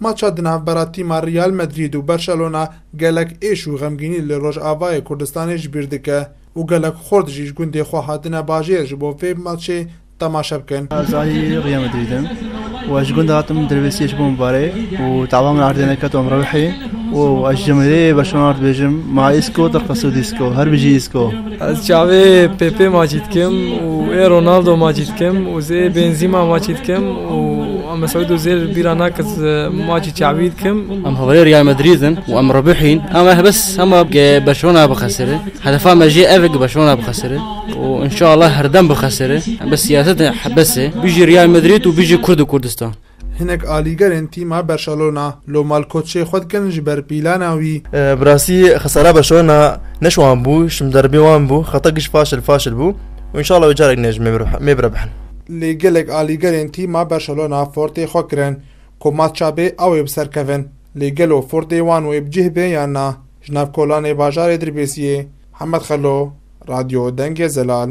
Maça di navbera tîma Real Madrid û Barcelona gelek êş û xemgînî li Rojavayê Kurdistanê ji bîr dike û gelek xurt jî ji gundê xwe hatine bajêr ji bo vê maçê temaşe bikin. Ez alî Real Madrid im û ez ji gundê hatim Drevêsiyê ji bo min bare û tawa min erdê neket û em rewîhî û ez ji cemahîrê Barcelona re dibêjim, Ma Isco, Torka Sud Isco, Her bijî Isco! Ez çavê Pepe maçî dikim û ê Ronaldo maçî dikim û zê Benzîma maçî dikim û em Sewîdo zê li bîra nake maçî çavî dikim. Em haverê Real Madrid in û em ribihîn em ev bes hema Barcelona bixesire. Hedefa me jê ev e Barcelona bixesire û inşallah herdem bixesire. Em bes siyaset e hebes e. Bijî Real Madrid û bijî Kurd û Kurdistan. Hinek alîgerên tîma Berşalona lo malkotşê xwe dikin ji ber pîlana wî. Bi rastî xesara Berşalona ne ji wan bû, ji min derbê wan bû. Xeta giş faşil faşil bû û înşallah wê carek ne ji mêr birebihn. Lê gelek alîgerên tîma Berşalona fortê xwe kirin ku mat çabê a wê bi ser kevin. Lê gelo fortê wan wê bi cih bê yan na? Ji nav kolanê bajarê Dirbêsiyê, Hemed Xelo, Radyo Dengê Zelal.